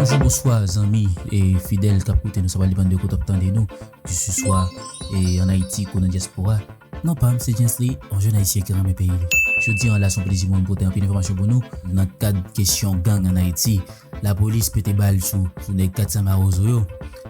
Bonjou bonswa zanmi e fidèl kap koute nou sa pa depann de kote wap tande nou kise swa e an ayiti kou nan dyaspora non pam se Gentsley yon jèn ayisyen ki renmen peyi li jodi an la son plezi pou mwen pote anpil enfòmasyon pou nou nan kad kesyon gang an ayiti lapolis pete bal sou nèg 400 mawozo yo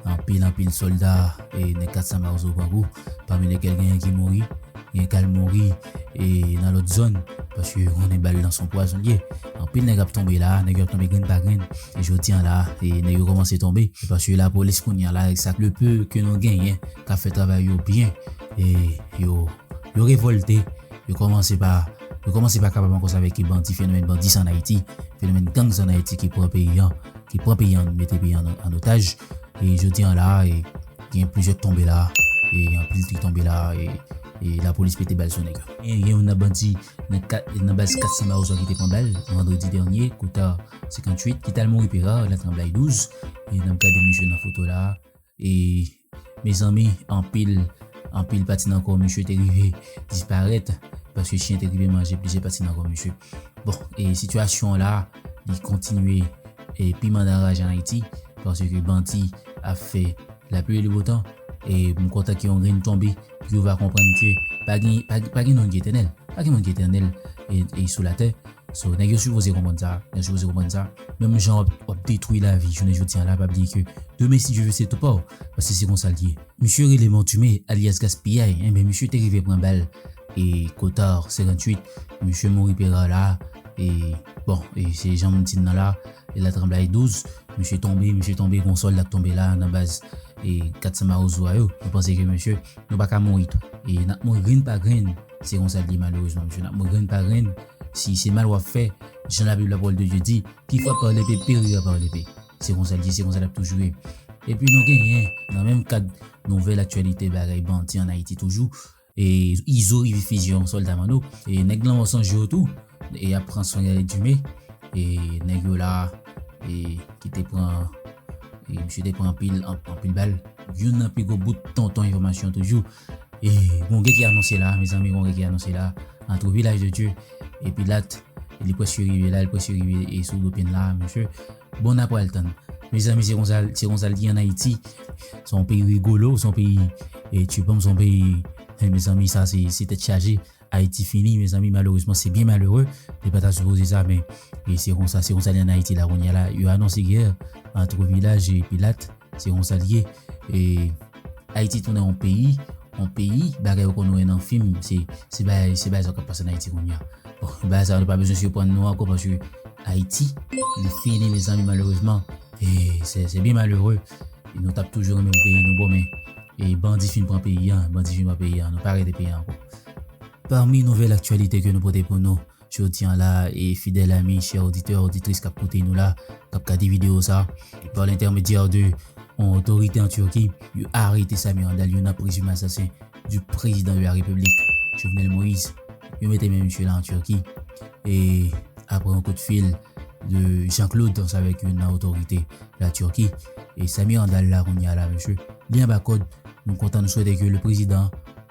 anpil anpil sòlda e nèg 400 mawozo grangou pami lèkel genyen ki mouri genyen kal mouri. e nan lòt zòn paske yo konnen bal lan son pwazon l ye. Anpil nèg ap tonbe la a, nèg yo ap tonbe grenn pa grenn e jodi an la a nèg yo kòmanse tonbe e paske lapolis kounye a la avèk sa le peu ke nou genyen k ap fè travay yo byen e yo yo revòlte yo kòmanse pa yo kòmanse pa kapab ankò save ki bandi fenomèn bandi sa an Ayiti fenomèn gang sa an Ayiti ki pran peyi an ki pran peyi an mete peyi an an otaj e jodi an la a e. Gen plizyè k tonbe la e gen anpil ki tonbe la e lapolis pete bal sou nèg yo. Gen youn nan bandi nan baz 400 Mawozo ki te pran bal vandredi dènye kouta 58 ki t al mouri Pera nan tranblay 12 e n ap gade misye nan foto la e mezanmi anpil anpil pati nan kò misye te rive disparèt paske chyen te rive manje plizyè pati nan kò misye bon e sitiyasyon la. li kontinye e piman nan raj an Ayiti paske bandi ap fè lapli e le botan e m kontan ke yon grenn tonbe pou yo va konprann ke pa gen pa gen moun ki etènèl pa gen moun ki etènèl e sou latè so nèg yo sipoze konprann sa yo sipoze konprann sa menm jan w ap detwi lavi jounen jodi an la pa bliye ke demen si Dye ve se tou pa w paske se konsa l ye misye rele Montume alyas Gaspiyay enben misye te rive pran bal e Kotard 58 misye mouri Perard la E bon, e se jan m di n nan la, e la tranblay 12, misye tonbe, misye tonbe, gon sòlda k tonbe la nan baz e 400 Mawozo a yo, nou panse ke misye, nou pa ka mouri tou. E n ap mouri grenn pa grenn, se konsa l ye malerezman mesye, n ap mouri grenn pa grenn, si se mal w ap fè, jan labib la pawòl de Dye di, ki frape par lepe perira par lepe. Se konsa l ye, se konsa l ap toujou ye. Epi nou genyen, nan menm kad nouvèl aktyalite bagay bandi an Ayiti toujou, Izo rive fizye yon solda manno Nèg lanmò sonje w tou E yap pran swen Yaya Jime E nèg yo la E ki te pran E misye te pran anpil anpil bal Youn nan pi gwo bout tonton enfòmasyon toujou E gon gè ki anonse la Mezanmi gon gè ki anonse la Antre Vilaj de Dye e Pilat Li prèske rive la li prèske rive e sou Lopin la mesye Bon na pral tann. Mezanmi se konsa se konsa l t ye an ayiti se yon peyi rigolo se yon peyi e tchupam se yon peyi e mezanmi sa se se tèt chaje ayiti fini mezanmi malerezman se byen malere li pa ta sipoze sa men e se konsa se konsa l ye an ayiti la kounya la yo anonse gè entre vilaj e pilat Se yon sa li ye. E Ayiti tounen yon peyi, yon peyi, bagay ou konn wè nan fim, se, se bagay, se bagay sa k'ap pase nan Ayiti kounye a. Bon, bagay sa yo nou pa bezwen siprann nou ankò paske Ayiti li fini mezanmi malerezman. E se, se byen malere. Nou t'ap toujou renmen pou peyi nou bon men e bandi fin pran peyi a, bandi fin pran peyi a, nou pa rete peyi a ankò. Pami nouvèl aktyalite ke nou pote pou nou Jodi an la, e fidèl ami, chè oditè, oditris kap koute nou la, kap gade video sa, e pa lentèmedyè de yon otorite an Turki, yo arete Samir Handal, yon nan prezime asasen du prezidan de la Repiblik, Jovenel Moise. Yo mete men misye la an Turki, e apre yon kout fil de Jean Claude Tons avèk yon nan otorite la Turki, e Samir Handal la kounye a la mesye, li anba kòd, nou kontan nou swete ke le prezidan.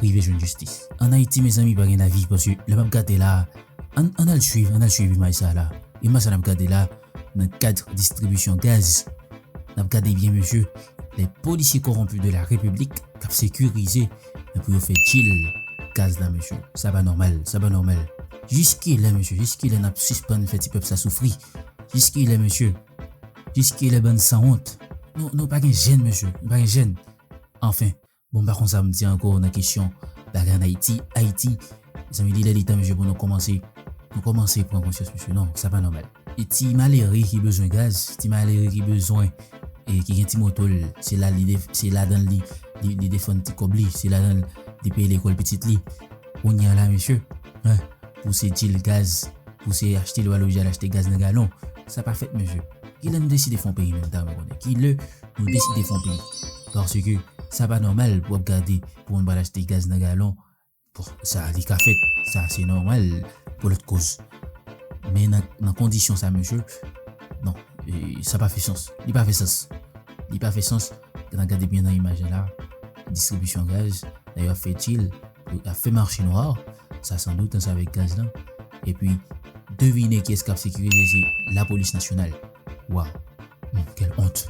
rive jwenn jistis. An ayiti mezanmi pa gen lavi paske lè map gade la an an al swiv an al swiv imaj sa la imaj sa nap gade la nan kad distribisyon gaz nap gade byen mesye lè polisye kowonpi de la repiblik kap sekirize nan pou yo fè dil gaz la mesye sa pa nòmal sa pa nòmal jis kilè mesye jis kilè nap sispann fè ti pèp sa soufri jis kilè mesye jis kilè bann sanwont nou nou pa gen jèn mesye nou pa gen jèn anfen Bon m pa konn sa pou m di ankò nan kesyon bagay an Ayiti. Ayiti, mezanmi li lè li tan mesye pou nou kòmanse, nou kòmanse pran konsyans mesye non, sa pa nòmal. E ti malere ki bezwen gaz, ti malere ki bezwen e ki gen ti moto l, se la li se ladan l li li defann ti kòb li, se ladan l li peye lekòl pitit li. Kounya la mesye hein pou se dil gaz pou se achte lwa loje al achte gaz nan galon sa pa fèt mesye kilè nou deside fon peyi menm dam konnen kilè nou deside fon peyi paske sa pa nòmal pou ap gade pou moun pral achte gaz nan galon bon sa li ka fèt sa se nòmal pou lòt koz men nan kondisyon sa mesye non sa pa fè sans li pa fè sans li pa fè sans. N a gade byen nan imaj la la, distribisyon gaz, lè yo ap fè dil, yo ap fè mache nwa, sa san dout ansanm avèk gaz lan. Epi, devine kiyès k ap sekirize, se lapolis nasyonal. Waw! Kèl ont!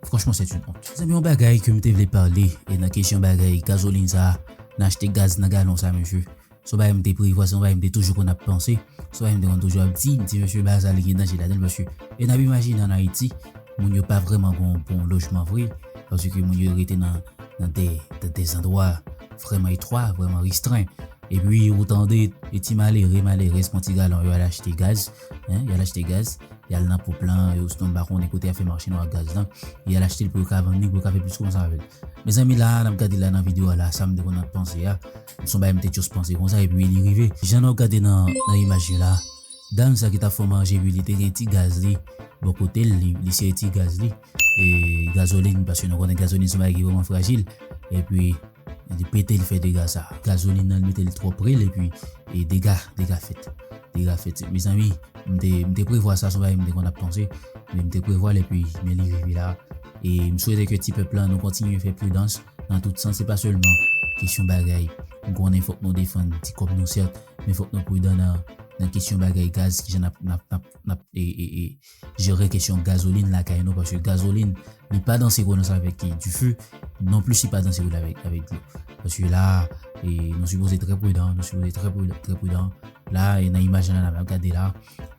Franchman sèt yn ont. Mezanmi yon bagay ke m te vle pale e nan kesyon bagay gazolin sa a, nan achte gaz nan galon sa a mesye. Se yon bagay m te prevwa, se yon bagay m te toujou konn ap panse, se yon bagay m te konn toujou ap di, m di mesye bagay sa li gen danje ladan l paske e n ap imajine an Ayiti moun yo pa vrèman gen yon bon lojman vre paske moun yo rete nan de zandwa vrèman etwa, vrèman restren. Epi ou tande e ti malere, malerèz pran ti galon yo al achte gaz, yo al achte gaz, y al nan ponp lan osnon m pa konnen kote y ap fè mache nwa ak gaz lan, y al achte l pou yo ka vann li, pou yo ka fè plis kòb ansanm avè l. Mezanmi la a n ap gade la nan videyo a la a sa m te konn ap panse a. Son bagay m te just panse konsa epi li rive. Jan nap gade nan imaj yo la dam sa ki tap fè manje ui li te gen ti gaz li bò kotel li li sere ti gaz li e gazoline paske nou konnen gazoline son bagay ki vreman frajil epi li pete li fè dega sa gazoline nan li metel twò prel epi e dega dega fèt dega fèt mezanmi m te m te prevwa sa son bagay m te konn ap panse men m te prevwal epi men li rive la e m swete ke ti pèp la nou kontinye fè pridans. Nan tout sans se pa sèlman kesyon bagay. M konnen fòk nou defann ti kòb nou sèt men fòk nou pridan nan nan kesyon bagay gaz kijan nap nap nap nap jere kesyon gazolin lakay nou paske gazolin li pa danse gwo nan sa avèk dife non plis li pa danse gwo avèk avèk dlo paske la nou sipoze trè pridan nou sipoze trè pridan la nan imaj la nap gade la.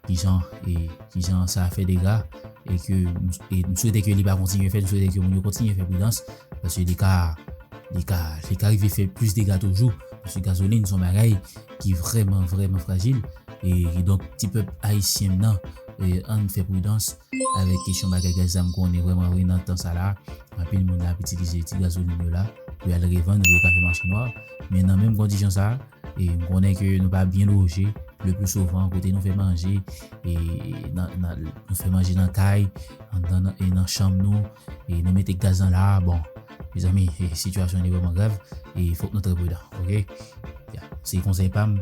kijan e kijan sa fè dega e ke nou swete ke li pa kontinye fè nou swete ke moun yo kontinye fè pridans paske li ka li ka li ka rive fè plis dega toujou paske gazolin son bagay ki vreman vreman frajil e donk ti pèp ayisyen nan e ann fè pridans avèk kesyon bagay gaz la m konnen vreman vre nan tan sa la anpil moun ap itilize ti gazolin yo la pou y al revann pou yo ka fè mache nwa men nan menm kondisyon sa e m konnen ke nou pa byen loje le pli souvan kote nou fè manje e nou fè manje nan kay e nan chanm nou e nou mete gaz nan la bon mezanmi sitiyasyon li vreman grav e fok nou trè pridan ok ya se konsèy pa m.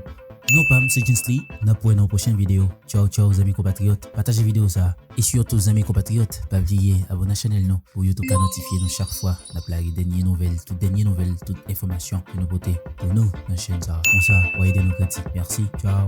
Non pam se Gentsley nap wè nan yon pwochen video tchawtchaw zanmi konpatriyòt pataje video sa. E sitou zanmi konpatriyòt pa bliye abòne chanèl nou pou youtube ka notifye nou chak fwa nap lage dènye nouvèl tout dènye nouvèl tout enfòmasyon ke nou pote pou nou nan chèn sa konsa wa ede nou grandi merci ciao.